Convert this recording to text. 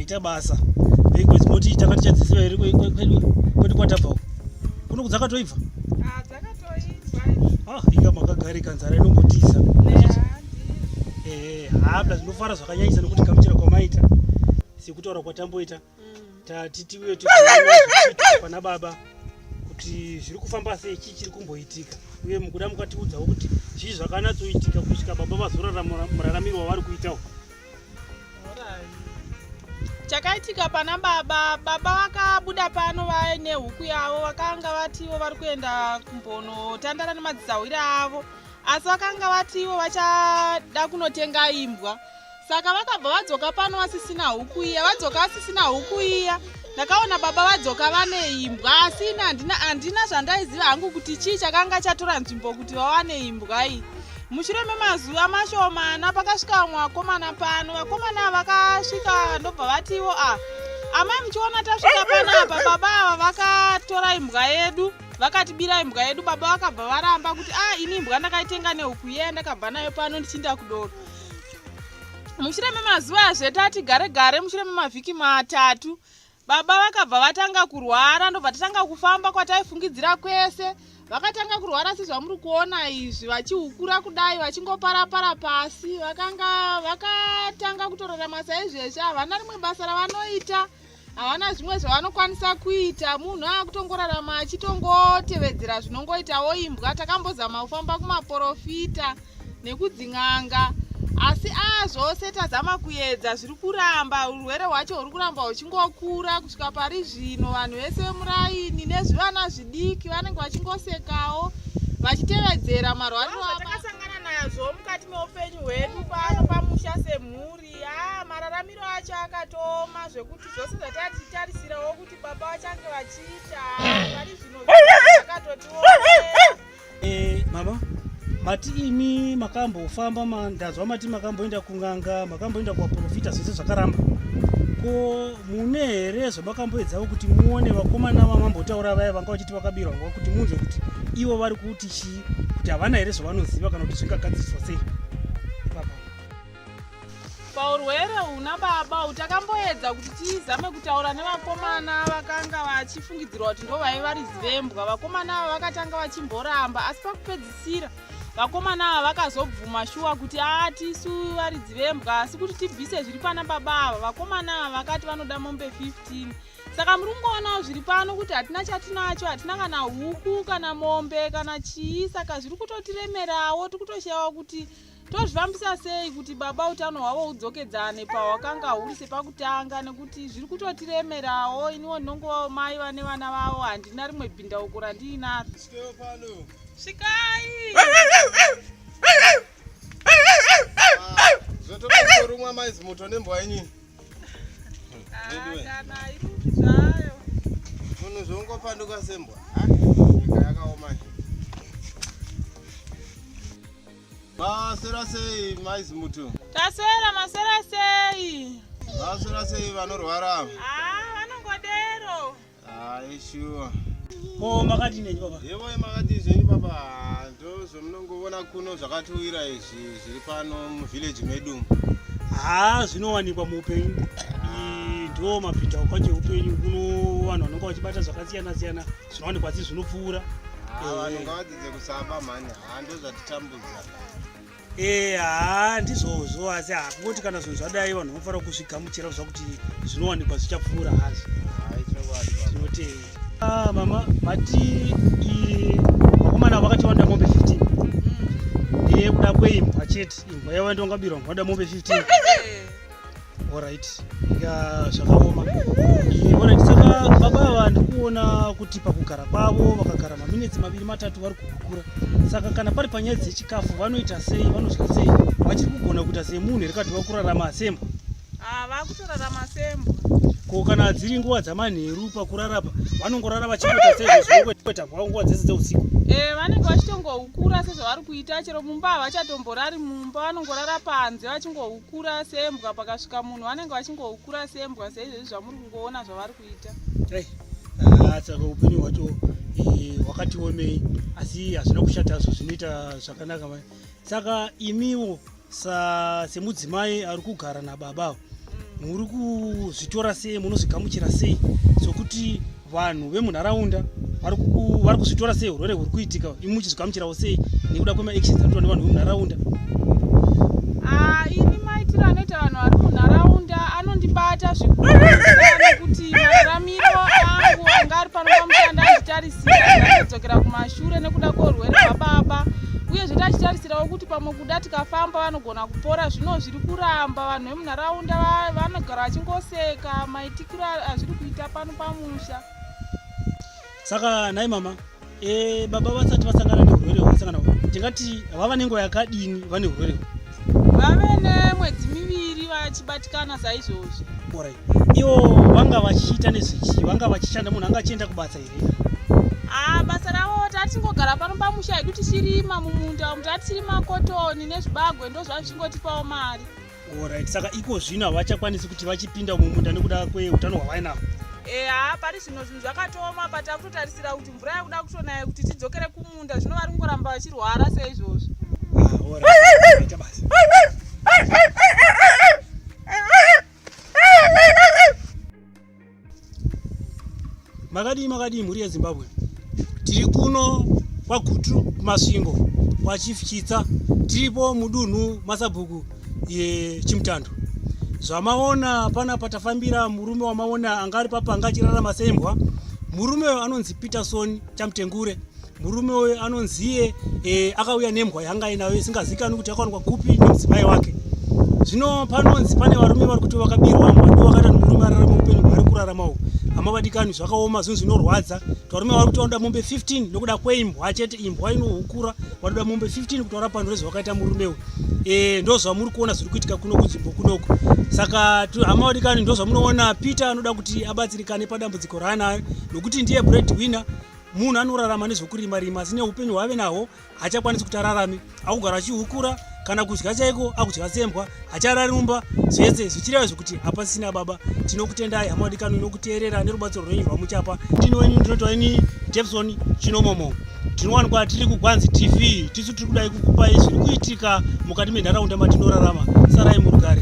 kuita basa veiko zimoti takati chadzisiva here kwedu kwatabva uku kuno kudzakatoibva Ah, ika makagarika nzara inongotiza eh, habla tinofara zvakanyanyisa nokuti kamuchira kwamaita sekutaura kwatamboita mm. tati tiuye pana baba kuti zviri kufamba sei chii chiri kumboitika uye mukuda mukatiudzawo kuti zvii zvakanatsoitika kusvika baba vazorara muraramiro wavari kuitawo chakaitika pana baba baba vakabuda pano vaine huku yavo vakanga vativo vari kuenda kumbonotandara nemadzisahwira avo asi vakanga vativo vachada kunotenga imbwa saka vakabva vadzoka pano vasisina huku iya vadzoka vasisina huku iya ndakaona baba vadzoka vane imbwa asi ini handina zvandaiziva hangu kuti chii chakanga chatora nzvimbo kuti vawane imbwa iyi mushure memazuva mashomana pakasvika vamwe vakomana pano vakomana vakasvika ndobva vatiwo a ah, amai muchiona tasvika panapa baba ava vakatora imbwa yedu vakatibira imbwa yedu baba vakabva varamba kuti a ah, ini imbwa ndakaitenga nehuku yeye ndakabva nayo pano ndichiinda kudoro mushure memazuva azve tati gare gare mushure memavhiki matatu Baba vakabva vatanga kurwara ndobva tatanga kufamba kwataifungidzira kwese. Vakatanga kurwara sezvamuri kuona izvi vachihukura kudai vachingoparapara pasi. Vakanga vakatanga kutorarama saizvezvi havana rimwe basa ravanoita havana zvimwe zvavanokwanisa kuita munhu akutongorarama achitongotevedzera zvinongoitawo imbwa takambozama kufamba kumaporofita nekudzin'anga asi aa zvose tazama kuedza zviri kuramba urwere hwacho huri kuramba huchingokura kusvika pari zvino vanhu vese vemuraini nezvivana zvidiki vanenge vachingosekawo vachitevedzera marwariro atakasangana nazvo mukati meupenyu hwedu pano pamusha semhuri a mararamiro acho akatoma zvekuti zvose zvatatitarisirawo kuti baba vachange vachiita pari zvino akatotiwo Eh, mama mati imi makambofamba ma, ndanzwa mati makamboenda kun'anga makamboenda kuvaprofita zvese zvakaramba ko mune here zvamakamboedzawo kuti muone vakomana vamambotaura vaya vanga vachiti vakabirwa nguva kuti munzwe kuti ivo vari kuti chii kuti havana here zvavanoziva kana kuti zvingagadziriswa sei paurwere huna baba uyu takamboedza kuti tizame kutaura nevakomana vakanga vachifungidzirwa kuti ndo vaive vari zivembwa vakomana ava vakatanga vachimboramba asi pakupedzisira vakomana ava vakazobvuma shuwa kuti aa tisu vari dzivembwa asi kuti tibvise zviri pana baba ava vakomana ava vakati vanoda mombe 15 saka muri kungoonawo zviri pano kuti hatina chatinacho hatina kana huku kana mombe kana chii saka zviri kutotiremerawo tiri kutoshayawo kuti tozvifambisa sei kuti baba utano hwavo hudzokedzane pahwakanga huri sepakutanga nekuti zviri kutotiremerawo iniwo ndinongovawo mai vane vana vavo handina rimwe bhindauko randiinaro svikai zvototorumwa maizi moto nembwa yenyini kana iruki zvayo munhu zvongopanduka sembwa yakaoma Masera sei mai Zimuto? Tasera masera sei? Masera sei vanorwara? Ah, vanongodero. Ah, sure. Ko makati nei baba? Yevo makati zvenyu baba, ndo zvomunongovona kuno zvakatiwira izvi zviri pano muvillage medu. Ah, zvinowanikwa muupenyu. Ah. Ndo mapinda kwacho upenyu kuno vanhu vanonga vachibata zvakasiyana siyana. zvinowanikwa asi zvinopfuura ah, vanhu eh. ngavadzidze kusaba mhani haa ah, ndozvatitambudza ee haa ndizvozvo asi hakungoti kana zvinhu zvadai vanhu vanofanira kuzvigamuchira kuziva kuti zvinowanikwa zvichapfuura hazvo tinotei ah, mama mati vakomana vakatiwanda mombe 15 mm. ee kuda kweimbwa chete imbwa yavandongabirwa ngoda mombe 15 Alright, ika zvakaoma. Alright, saka baba ava ndikuona kuti pakugara kwavo vakagara maminetsi maviri matatu vari kuhukura. Saka kana pari panyaya dzechikafu vanoita sei, vanodya sei, vachiri kugona kuita semunhu here kati vakurarama sembo? Ah, vakutorarama sembo. Ko kana dziri nguva dzamanheru pakurarapa vanongorara vachikuita sezvekuita kwavo nguva dzese dzeusiku? Eh, vanenge vachitongohukura sezvavari kuita chero mumba havachatomborari mumba vanongorara panze vachingohukura. kura sembwa pakasvika munhu vanenge vachingokura sembwa seizvezvi zvamuri kungoona zvavari kuita eh, ah, saka upenyu hwacho eh, hwakati omei asi hazvina kushata zvo zvinoita zvakanaka mai saka imiwo semudzimai ari kugara nababa mm. muri kuzvitora sei munozvigamuchira sei sokuti vanhu vemunharaunda vari kuzvitora sei urwere huri kuitika imi muchizvigamuchirawo sei nekuda kwemaactions anoitwa nevanhu vemunharaunda ah, ini maitiro anoita vanhu vari munharaunda anondibata zvikuti mararamiro angu anga ari pano pamushanda achitarisiradzokera kumashure nekuda kweurwere hwababa uye zvete achitarisirawo kuti pamwe kuda tikafamba vanogona kupora zvino zviri kuramba vanhu vemunharaunda vanogara vachingoseka maitika azviri kuita pano pamusha saka nhai mama e, baba vasati vasangana neurwere hwavasangana tingati vava nenguva yakadini vane urwere vave nemwedzi miviri vachibatikana saizvozvi orit ivo vanga vachiita nezvichii vanga vachishanda munhu anga achienda kubasa here haa basa ravo tatingogara pano pamusha hedu tichirima mumunda umu tatichirima kotoni nezvibagwe ndozvazvichingotipawo mari Alright, saka iko zvino havachakwanisi kuti vachipinda mumunda nekuda kweutano hwavainavo eha pari zvino zvinhu zvakatooma but akutotarisira kuti mvura yakuda kutonaya kuti tidzokere kumunda zvino vari kungoramba vachirwara seizvozvo ah, makadii makadii mhuri yezimbabwe tiri kuno kwagutu kumasvingo kwachief chitsa tiripo mudunhu masabhuku yechimutando zvamaona pana patafambira murume wamaona anga ari papa anga achirarama sembwa murume uyo anonzi peterson chamutengure Murume uyu anonziye e, akauya nembwa yanga ainayo isingazikanwi kuti yakawanikwa kupi nemudzimai wake. Zvino panonzi pane varume vari kuti vakabirwa mbwa ndivo vakaita murume ararama upenyu hwaari kurarama uhu. Hama vadikani zvakarwadza zvinhu zvinorwadza kuti varume vari kuti vanoda mombe 15 nokuda kweimbwa chete imbwa inohukura vanoda mombe 15 kuti varapano rezvavakaita murume uyu e, ndozvamuri kuona zviri kuitika kuno kunzvimbo kunoku saka hama vadikani ndozvamunoona peter anoda kuti abatsirikane padambudziko raanayo nokuti ndiye bread winner munhu anorarama nezvekurima rima asi neupenyu hwaave nahwo hachakwanisi kuti ararame akugara achihukura kana kudya chaiko akudya sembwa hacharari mumba zvese zvichireva zvekuti hapasisina baba tinokutendai hama wadikano inokuteerera nerubatsiro rwenyu rwamuchapa ndini wenyu ndinoitwa ini depson chinomomo tinowanikwa tiri kugwanzi tv tisu tiri kudai kukupai zviri kuitika mukati menharaunda matinorarama sarai murugare